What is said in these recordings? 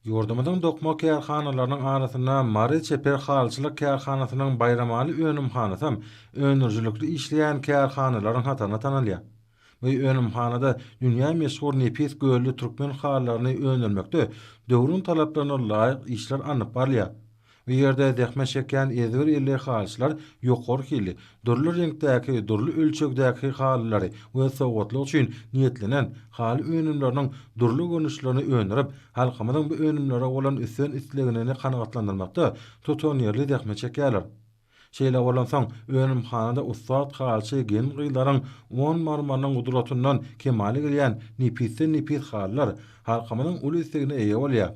Ýurdumyzyň dokma kärhanalarynyň arasynda Mary çeper halyçylyk kärhanasynyň Baýramaly önümhanasam öndürijilikli işleýän kärhanalaryň hatarynda tanalýar. Bu önümhanada dünýä meşhur nepis gölli türkmen halylaryny öndürmekde döwrüň talaplaryna laýyk işler alnyp barylýar. Bu ýerde zähmet çekýän ezber elli halyçylar ýokary hilli, dürli reňkdäki, dürli ölçegdäki halylary we sowgatlyk üçin niýetlenen haly önümleriniň dürli görnüşlerini öndürip, halkymyzyň bu önümlere bolan üstün isleginini kanagatlandyrmakda tutanýerli zähmet çekýärler. Şeýle bolansoň, önümhanada ussat halyçy gelin-gyzlaryň on marmarynyň gudratyndan kemala gelýän nepisden-nepis halylar halkymyzyň uly islegine eýe bolýar.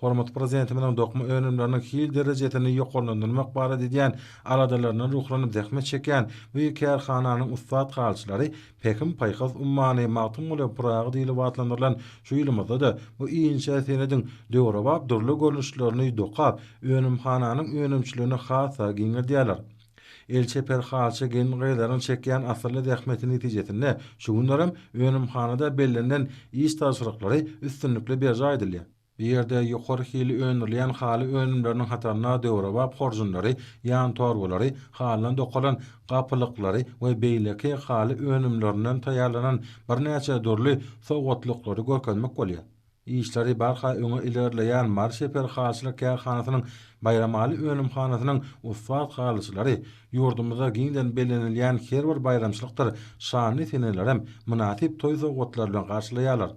Hormatly Prezidentimiziň dokma önümleriniň hil derejesini ýokarlandyrmak barada edýän aladalaryndan ruhlanyp zähmet çekýän bu ýygy kärhananyň ussat halçylary Pähim-paýhas ummany Magtymguly Pyragy diýlip atlandyrylan şu ýylymyzda-da bu inçe senediň döwrebap dürli görnüşlerini dokap, önümhananyň önümçiligini has-da giňeldýärler. El çeper halçy gelin-gyzlaryň çekýän asylly zähmeti netijesinde şu günlerem önümhanada bellenilen iş tabşyryklary üstünlikli berjaý edilýär. Bu ýerde ýokary hili öndürilýän haly önümleriniň hatarynda döwrebap horjunlary, ýan torbalary, halydan dokalan gapylyklary we beýleki haly önümlerinden taýýarlanan birnäçe dürli sowgatlyklary görkezmek bolýar. Işleri barha öňe ilerleýän Mary şäher halyçylyk kärhanasynyň Baýramaly önümhanasynyň ussat halyçylary ýurdumyzda giňden bellenilýän her bir baýramçylykdyr şanly senelerem mynasyp toý sowgatlary bilen garşylaýarlar.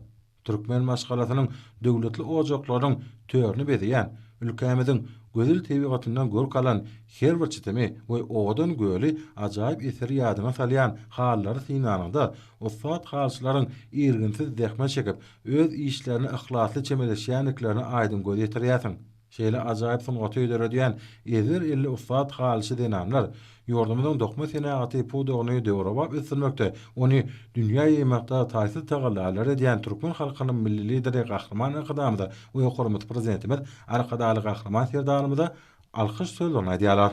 Türkmen maşgalasynyň döwletli ojaklarynyň törüni bezeýän, ülkämiziň gözel tebigatyndan görk alan her bir çitimi we owadan göli ajaýyp eseri ýadyňa salýan halylary synlanyňda, ussat halyçylaryň irginsiz zähmet çekip, öz işlerine yhlasly çemeleşýändiklerine aýdyň göz ýetirýärsiň. Şeýle ajaýyp sungaty döredýän ezber elli ussat halyçy zenanlar ýurdumyzyň dokma senagaty pudagyny döwrebap ösdürmekde, ony dünýä ýaýmakda taýsyz tagallalary edýän türkmen halkynyň Milli Lideri Gahryman Arkadagymyza we Ýokarymyz Prezidentimiz Arkadagly Gahryman Serdarymyza alkyş sözlerini aýdýarlar.